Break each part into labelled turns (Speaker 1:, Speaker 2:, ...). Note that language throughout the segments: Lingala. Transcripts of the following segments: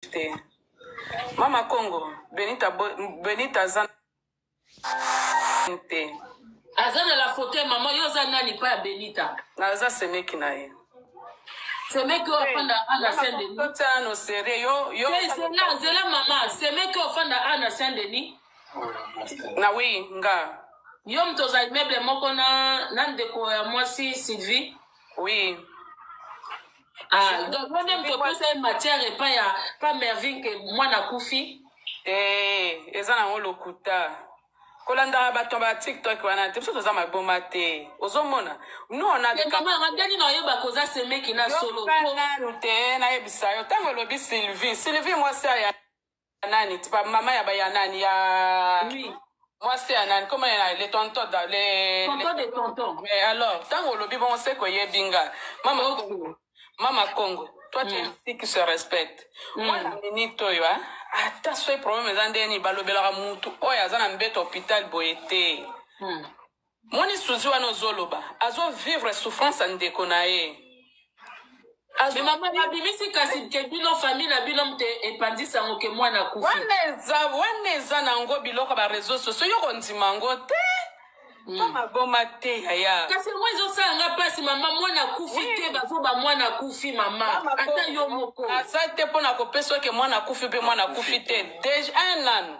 Speaker 1: te mama congo benita benita aza te aza na la
Speaker 2: faute mama yo oza nani pa ya benita naza semeki
Speaker 1: na ye semeki
Speaker 2: oyo afanda ana saint denisano serie
Speaker 1: yo yo zela zela mama
Speaker 2: semeki oyo afanda ana saint denis
Speaker 1: na wi nga yo moto oza
Speaker 2: immeuble moko na na ndeko ya mwasi sylvie oui Ah, donc moi même topesa ye matière epai ya pa mervin ke mwana akufi Eh,
Speaker 1: eza nango lokuta kolandaka bato ba tiktok wana te biso toza maboma te ozomona nous on a des mama yanga ndenge na oyeba
Speaker 2: koza semeki na solo Yoka nanu te
Speaker 1: nayebisa yo ntango elobi sylvie sylvie mwasi aya Nani? Tipa mama ya ba ya nani ya Oui.
Speaker 2: mwasi ya nani
Speaker 1: koma ya le tonton da le Tonton de tonton.
Speaker 2: mais alors ntango
Speaker 1: olobi bongo se koyebi nga mama Oh. Congo mama Congo toi tu es Mm. une fille qui se respecte Mm. mwana minute oyo ah, ata soki problème eza ndenge nini balobelaka mutu oyo aza na mbeto hôpital boye te Hmm. Moni souzi wana ozo loba azo vivre souffrance ya ndeko na ye.
Speaker 2: Azo- mama babimisi kasi ke bino famille na bino mte epandisa yango ke mwana akufi wana eza wana
Speaker 1: eza na yango biloko ya bareseau sociaux yo kondima yango te to maboma te yaya kasi yango ezosala nga
Speaker 2: mpasi mama mwana akufi te bazoba mwana akufi mama ata yo moko aza te mpo na
Speaker 1: kopesa oke mwana akufi mpe mwana akufi te deja un an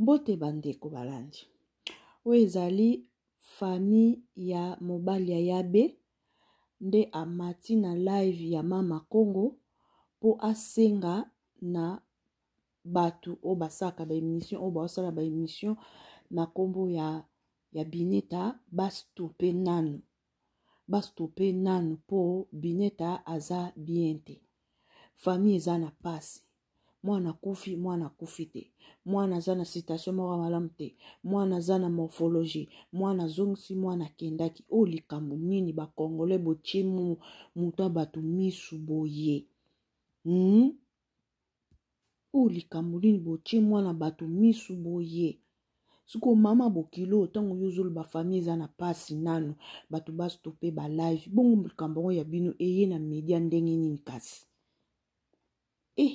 Speaker 3: Mbote bandeko balandi. Oyo ezali famille ya mobali ya Yabe nde amati na live ya Mama Kongo mpo asenga na bato oyo basalaka ba emission oyo baosala ba emission na nkombo ya ya bineta bastope nanu bastope nanu mpo bineta aza bien te famille eza na mpasi mwana akufi mwana akufi te mwana aza na situation moko malamu te mwana aza na morphologie mwana azongisi mwana akendaki oyo likambo nini bakongole botimu moto ya bato misu boye hmm? oyo likambo nini botie mwana bato misu boye siko mama bokilo ntango yo ozoloba famille eza na mpasi nano bato bastope balive bongo likambo yango ya bino eye na media ndenge nini kasi e eh,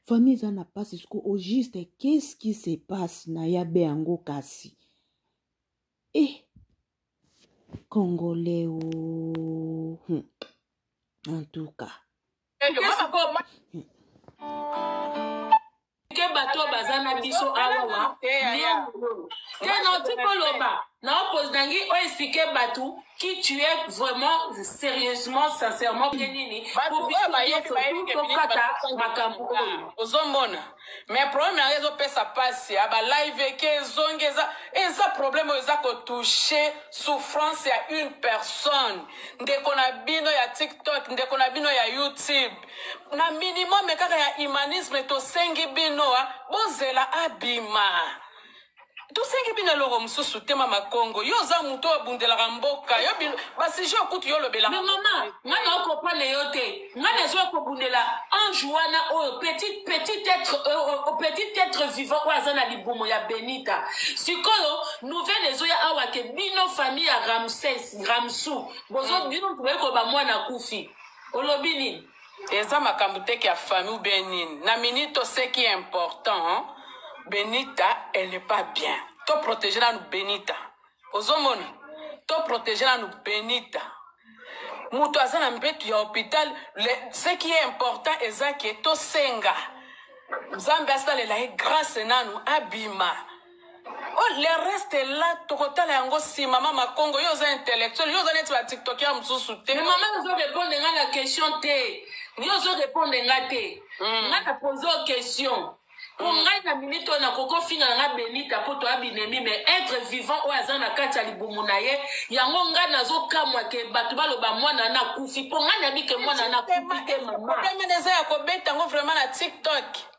Speaker 3: famille eza na mpasi siko au juste qu'est-ce qui se passe na ya be yango kasi e eh, congolais o oh. hmm. en tout cas
Speaker 2: ke bato baza na biso awawa tena tikoloba na opose nangi oyo explike bato qui tu es vraiment sérieusement sincèrement mpe nini po biso nyonso tokata makambo
Speaker 1: oyo ozomona mais problème yango ezopesa mpasi ya balive eke ezongi eza eza problème oyo eza kotouche souffrance ya une personne ndeko na bino ya tiktok ndeko na bino ya youtube na minimum kaka ya humanisme tosengi bino bozela abima tosengi bino eloko mosusu te mama kongo yo oza moto oyo obundelaka mboka yo basije okutu yo olobelaka me mama ngai
Speaker 2: naokopane yo te ngai nazwa kobundela ange wana oyo petit petit être euh, euh, euh, petit être vivant oyo aza na libumo ya benita sikoyo nouvelle ezoya awa ke bino famille ya ramses ramsu bozo mm. bino moto boyekoloba mwana akufi olobi nini Eza
Speaker 1: makambo te kia famille ou bien nini. Na minute to ce qui est important, Benita elle n'est pas bien. To protéger nanu Benita. Ozomona? To protéger nanu Benita. Moto aza na mbetu ya hôpital, le- ce qui est important eza que tosenga Nzambe asalela ye grâce nanu abima. Oh, le reste est là tokotala yango nsima mama congo yo oza intellectuel yo oza neti batiktokia mosusu te mama ozo répondre
Speaker 2: nga na question te yo ozo répondre nga te hmm. nga na pose o question po hmm. ngai na minute oyo nakoki ofinga na nga benita mpo toya binemi mais être vivant oyo aza na kati ya libumu na ye yango ngai nazokamwa ke bato baloba mwana na kufi mpo ngai nayebi ke mwana na
Speaker 1: kufi te mama
Speaker 2: eza
Speaker 1: ya
Speaker 2: kobeta yango vraiment
Speaker 1: na tiktok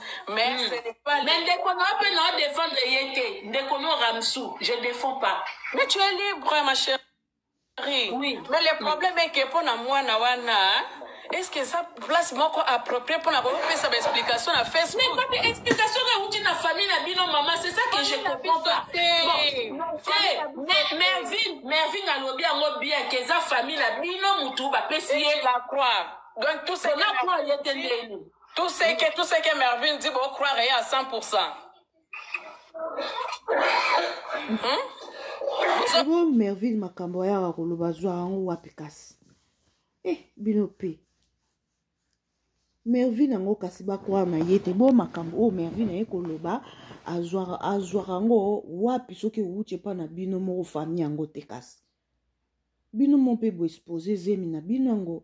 Speaker 1: mais mm. ce n'est pas mais ndeko na yo mpe na yo
Speaker 2: défendre ye te ndeko no ramsu je défends pas mais tu es libre
Speaker 1: ma chérie oui. mais
Speaker 2: le problème
Speaker 1: est que mpo na mwana wana est ce que eza place moko approprié mpo na kopesa baexplication na facebook mais kaka explication
Speaker 2: oyo euti na famille na bino mama c'est ça que je comprends pas mervin mervin alobi yango bien ke eza famille na bino motu bapesi ye la croix
Speaker 1: donc tout ce na croix ye te ndeni Tout ce que, tout
Speaker 3: ce que Mervyn dit, vous croirez à 100%. Hmm? Sebo Mervyn makambo ayaka koloba azwa yango wapi kasi eh bino mpe mervine yango kasi bakwaa na ye te bo makambo oyo mervine aye koloba azwaka yango wapi soki ewuti epa na bino moko fami yango te kasi bino mo mpe boexpose zemi na bino yango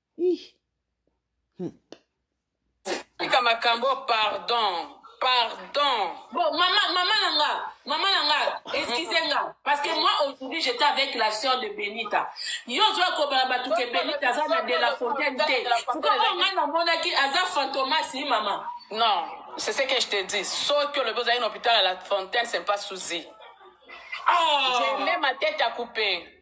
Speaker 1: tika makambo pardon pardon
Speaker 2: bon mama mama na nga mama na nga excuse nga parce que moi aujourd'hui j'étais avec la sœur de benita yo ozwa kobala bato ke benita aza na de la fontaine te fuka oyo ngai namonaki aza fantomas ni mama non c'est
Speaker 1: ce que je te dis soki olobi ozali na hôpital ya la fontaine c'est pas souci oh. je mets ma tête à couper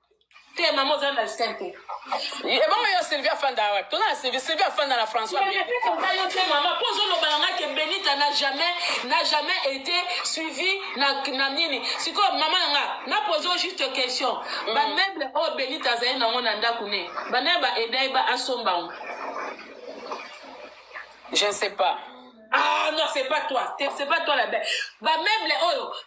Speaker 1: te mama
Speaker 2: oza na skin te ebongo yo
Speaker 1: sylvie afanda awa toza na sylvie sylvie afanda na françois eza yo te mama
Speaker 2: mpo ozoloba na ngai ke benita na jamais na jamais été suivi na, na nini sikoyo mama na nga na pose o juste question mm. bameuble oyo benita azali nango na ndako ne banaye baeda ye ba asomba ngo
Speaker 1: je ne sais pas ah non
Speaker 2: c'est pas toi c'est pas toi la belle bameuble oyo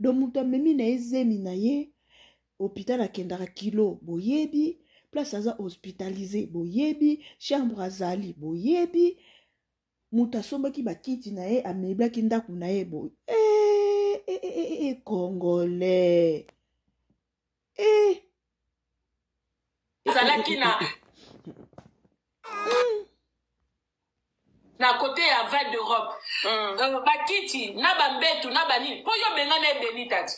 Speaker 3: donc moto amemi na ye zemi na ye hopital akendaka kilo boyebi place aza hospitalise boyebi chambre azali boyebi moto asombaki bakiti na ye ameblaki ndako na ye boye eh, eh, eh, eh, eh, congolais eh.
Speaker 2: ezalaki na na kote ya val d'europe mm. euh, bakiti na bambetu na banini mpo yo bengana ebenita ti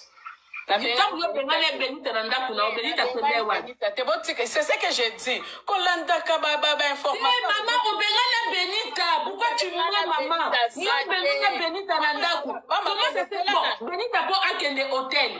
Speaker 2: ntango yo bengana ebenita na ndako na obenita
Speaker 1: kende wanisese ce que je dis kolandaka bainformatiomama eh, obengana
Speaker 2: benita pourkoi tu moi mama yo obengana benita na ndako comment se fait bon benita mpo akende hôtel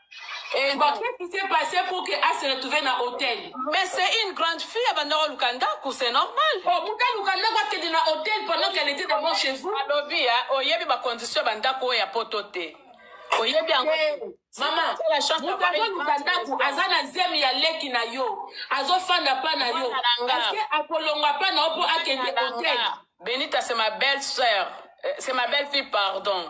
Speaker 2: Eh,
Speaker 1: bon, qu'est-ce qui s'est
Speaker 2: passé pour que a se retrouver na hôtel Mais c'est une grande
Speaker 1: fille, elle va dans le kandaku, c'est normal. Oh, muta le
Speaker 2: kandaku a été dans hôtel pendant qu'elle était d'abord chez vous. Alobi, hein, oh, yebi
Speaker 1: ba condition bandako ya potote. Oh, yebi ango. Eh, mama,
Speaker 2: muta le kandaku, aza na zemi ya leki na yo. Azo fanda pa na yo. Est-ce que akolonga pa na opo akende hôtel? Benita, c'est ma
Speaker 1: belle-sœur. Euh, c'est ma belle-fille, pardon.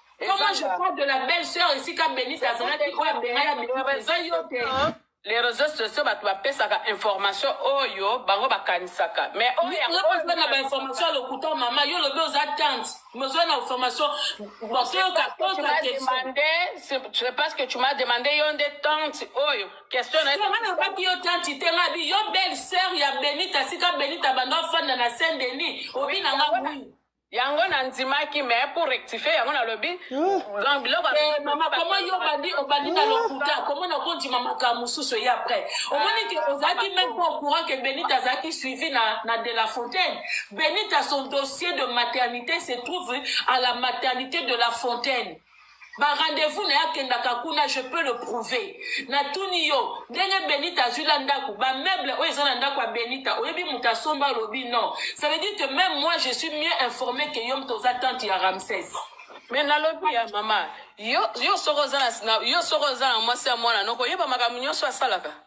Speaker 2: Comment je parle de la belle sœur ici quand Benita azalaki oyo abengaya
Speaker 1: Benita eza yo te. Les réseaux sociaux bato bapesaka information oyo bango bakanisaka mais oyo oza na
Speaker 2: bainformation ya lokuta mama yo lobi oza tante mais oza na information
Speaker 1: je pense que tu m'as demandé yo nde tante oyo question nabaki yo
Speaker 2: tante te ngabi yo belle sœur ya benita sika benita banda ofanda na saint denis obi na nga bui yango na
Speaker 1: ndimaki mais pour rectifier yango nalobi donc biloko Eh,
Speaker 2: mama komo yo obandi obandi na lokuta komo na kondima makambo mosusu ye après omoni ke ozalaki meme pas au courant ke benite azalaki suivi na, na de la fontaine benite a son dossier de maternité se trouve à la maternité de la fontaine ba rendez-vous na ye akendaka kuna je peux le prouver natuni yo ndenge benita azwi la ndako bameuble oyo eza na ndako ya benita oyebi moto asomba alobi non ça veut dire que même moi je suis mieux informé que yo moto oza tante ya ramses me nalobi
Speaker 1: ya mama yo soko oza na mwasi ya mwana noko oyeba makambo nyonso asalaka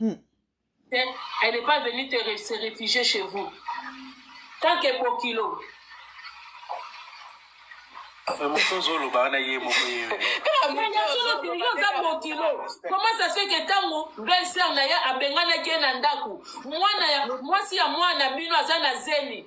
Speaker 2: Hmm. Elle n'est pas venue te, se réfugier chez vous. Tant que pour kilo.
Speaker 4: mokonzi oloba wana ye moko yeyoza
Speaker 2: mokilo koma ça fait ke ntango belser na ye abenganaki ye na ndako mwana ya mwasi ya mwana bino aza na zemi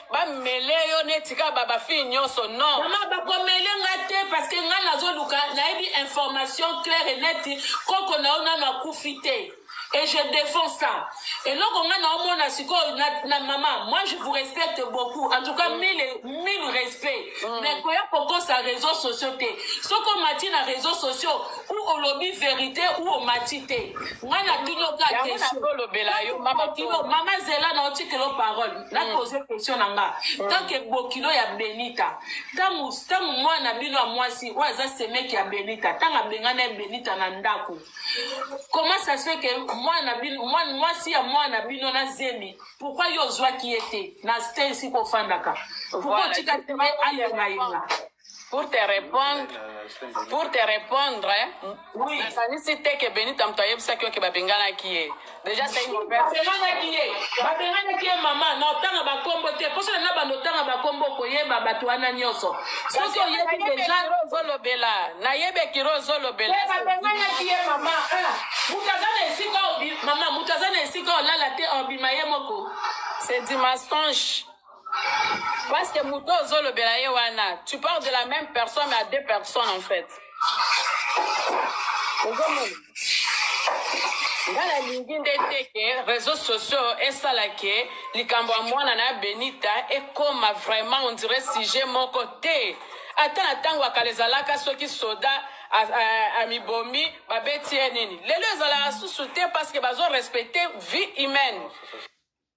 Speaker 1: bamele yo neti kaka ba bafille nyonso non mama bakomele nga te
Speaker 2: parce que nga nazoluka nayebi information claire et neti koko na yo nano akufi te et je défends ça eloko nga naomona sikoyo na, na mama moi je vous respecte beaucoup en tout cas mm. mille, mille respect mm. mais koya kokosa réseau sociaux te soki omati na réseau sociaux ou olobi vérité ou omati te nga natuni oka question mama zela na otikelo parole na pose question na nga tant que bokilo ya benita ntango ntango mwana na bino ya mwasi oyo aza semeki ya benita ntango abengani ya benita na ndako comment ça se que mwana mwasi ya mwana na bino na zemi pourkoi yo ozwaki ye te na stensi kofandaka pourkoi otikaki ye ayengayenga
Speaker 1: pour te répondre pour te répondre nakanisi
Speaker 2: te ke
Speaker 1: benita moto ayebisaki yo ke babenganaki ye déjà babenganaki ye
Speaker 2: babenganaki ye mama na otanga bakombo te mposo na banda otanga bakombo okoyeba bato wana nyonso soki oyebi deja ozolobela
Speaker 1: nayebi ekiro ozolobela eh, babenganaki ye
Speaker 2: mama ah, moto aza na esika mama moto aza na esika olala te obima ye moko c'est du
Speaker 1: mensonge Parce que moto ozo lobela ye wana, tu parles de la même personne mais à deux personnes en fait. Ozomona. nga nalingi nde te ke réseau sociaux esala ke likambo ya mwana na benita ekoma vraiment ondire sujet moko te ata na ntango ya kala ezalaka soki soda amibomi babeti ye nini lelo ezalaka susu te parce que bazo respecte vie humaine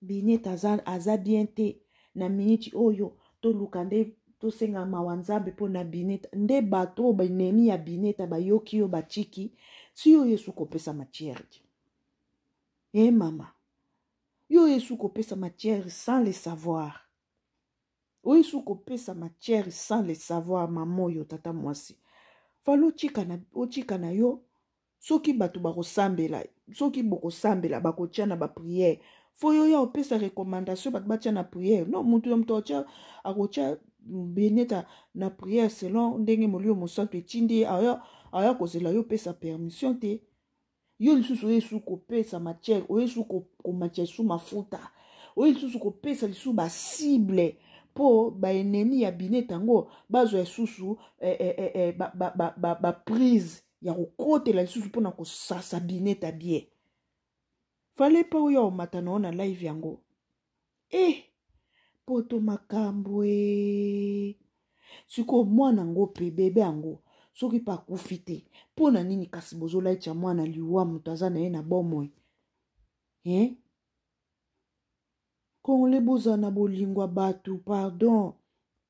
Speaker 3: Binet aza, aza bien te na miniti oyo toluka nde tosenga mawa nzambe mpo na bineta nde bato oyo banemi ya bineta bayoki yo batiki si yo yesu kopesa matière te e eh, mama yo yesu kopesa matière sans le savoir oyo yesu kopesa matière sans le savoir mama oyo tata mwasi fala otika na, otika na yo soki bato bakosambela soki bokosambela bakotya na bapriere fo yo ya opesa recommandation bato batya na priere no moto na moto atya akotya beneta na priere selon ndenge molimo mosantu etindi ye aya, aya kozela yo opesa permission te yo lisusu oye lisusu kopesa matière oye lisusu komatya lisusu mafuta oye lisusu kopesa lisusu basible mpo baennemi ya bineta yango bazwa lisusu eh, eh, eh, eh, baprise ba, ba, ba, ba ya kokotela lisusu mpo na kosasa bineta bie fale mpe oyo omata na yo na live yango e eh, poto makambo e sikoyo mwana yango mpe bebe yango soki mpe akufi te mpo na nini kasi bozolaicha mwana liwa moto aza na ye na bomoi e eh? kongole bozala na bolingo ya bato pardon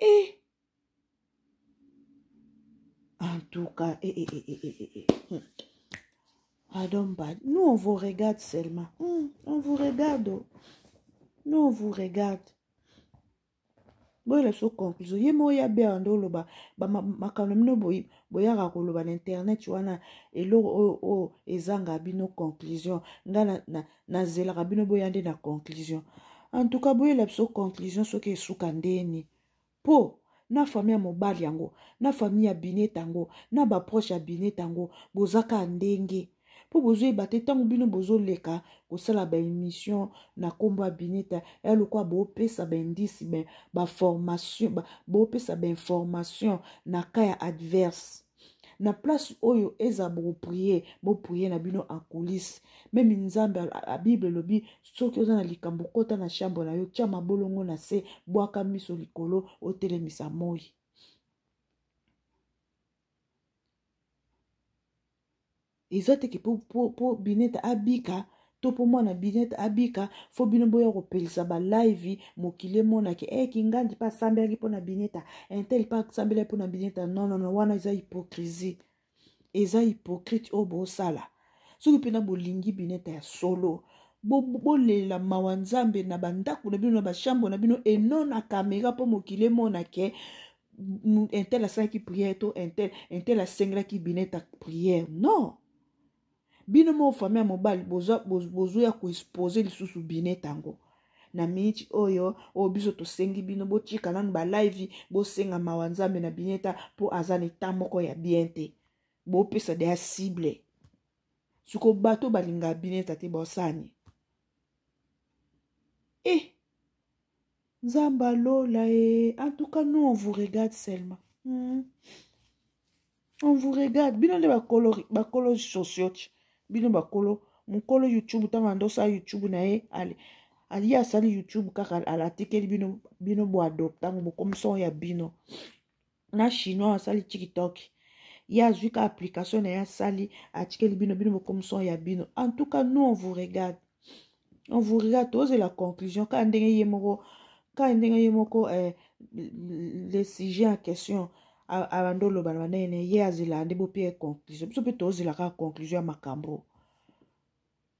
Speaker 3: Eh. En tout cas, eh, eh, eh, eh, eh, eh. eh. Hmm. Adomba, nous on vous regarde seulement. Hmm, on vous regarde. Oh. Nous on vous regarde. boyela so conclusion ye moko ya bea nde oloba makambo na bino boyaka koloba na internet wana eloko oyo ezanga bino conclusion ngai nazelaka bino boya nde na conclusion en tout cas boyela biso conclusion soki esuka ndeni mpo na famille ya mobali yango na famille ya binet yango na baproche ya binet yango boza kaka ndenge mpo bozoyeba te ntango bino bozoleka kosala baémission na nkombo ya bineta ya lokola bopesa baindice baformation bopesa bainformation na ka ya adverse na place oyo eza bokoprie boprie na bino en coulisse meme nzambe bible elobi soki oza na likambo kota na chambre na yo tya mabolongo na se bwaka miso likolo otelemisa moi eza teke po, po, po binete abika to mpo mwana binete abika fo bino boya kopelisa balaivi mokili emonake e eh, kingandi mpe asambelaki mpo na bineta intel mpe asambelaki mpo na bineta nonono wana eza hypocrisie eza hypocrite oyo bosala soki mpena bolingi bineta ya solo bolela bo mawa nzambe na bandako na bino na bashambo na bino enona kamera mpo mokili emonake un tel asalaki prière to un tel un tel asengelaki bineta prière non bino moko fami ya mobali bozoya koexpose lisusu bineta yango na miniti oyo oyo biso tosengi bino botika nanu balive bosenga mawa nzambe na bineta mpo aza na eta moko ya bien te bopesa deya cible siko bato balingaka bineta te bosani e eh. Nzamba Lola et en tout cas nous on vous regarde seulement. Hmm. On vous regarde. Bino nde bakolo bakolo sociote. Bino bakolo mukolo YouTube tanga ndosa YouTube na ye ale. Ali asali YouTube kaka alatikeli bino bino bo adopta ngo bokomisa ya bino. na chinois asali tiktok ye azwi ka application na ye asali atikeli bino bino bokomiso ya bino en tout cas nous on vous regarde on vous regarde tozela conclusion kaka ndenge ye moko kaka ndenge ye moko eh, le sujet en question abandi oloba na banene ye azelaka nde bope ye conclusion biso mpe tozela kaka conclusion ya makambo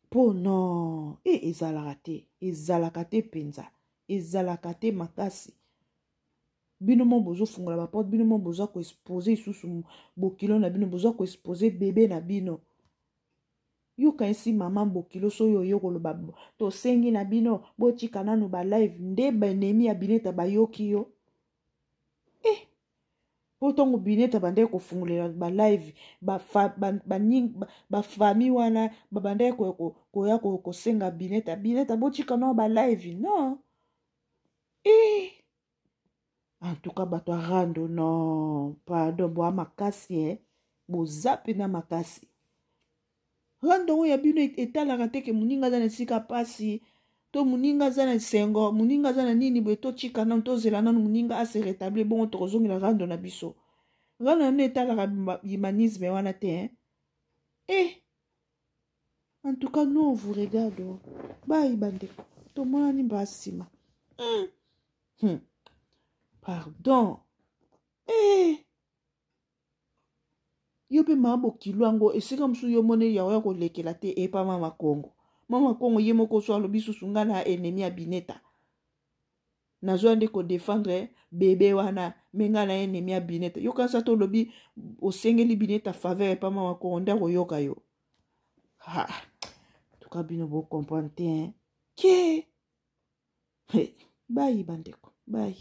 Speaker 3: mpo non e ezalaka te ezalaka te mpenza ezalaka te makasi bino mo bozofungola baporte bino mo boza koexpose lisusu bokilo na bino boza koexpose bebe na bino yokanisi mama bokilo soki oye koloba tosengi na bino botika nanu balive nde baenemi ya bineta bayoki yo e eh, mpo ntango bineta bandaki kofungolela balive bafami wana babandaki koya kosenga bineta bineta botika nao balive non Eh! En tout cas, bato ya rando, non, pardon, boa makasi, eh? boza mpena makasi rando oyo ya bino etalaka te ke moninga aza na esika mpasi to moninga aza na esengo moninga aza na nini boye totika nano tozela nano moninga ase rétablir bongo tokozongela rando na biso rando na bino etalaka humanisme wana te eh en tout cas non vous regarde oh. bayi bandeko tomonani mbaa nsima hmm. hmm. pardon eh. yo mpe maa bokilo yango esika mosusu yo mone yango ya kolekela te epa mama kongo mama kongo ye moko so alobi susu ngai na enemi ya bineta nazwa nde kodefendre bebe wana me ngai na enemi ya bineta yokanisa tolobi osengeli bineta faveur epa mama kongo nde akoyoka yo ha tuka bino bocomprendre te hein? ke hey, bayi bandeko bayi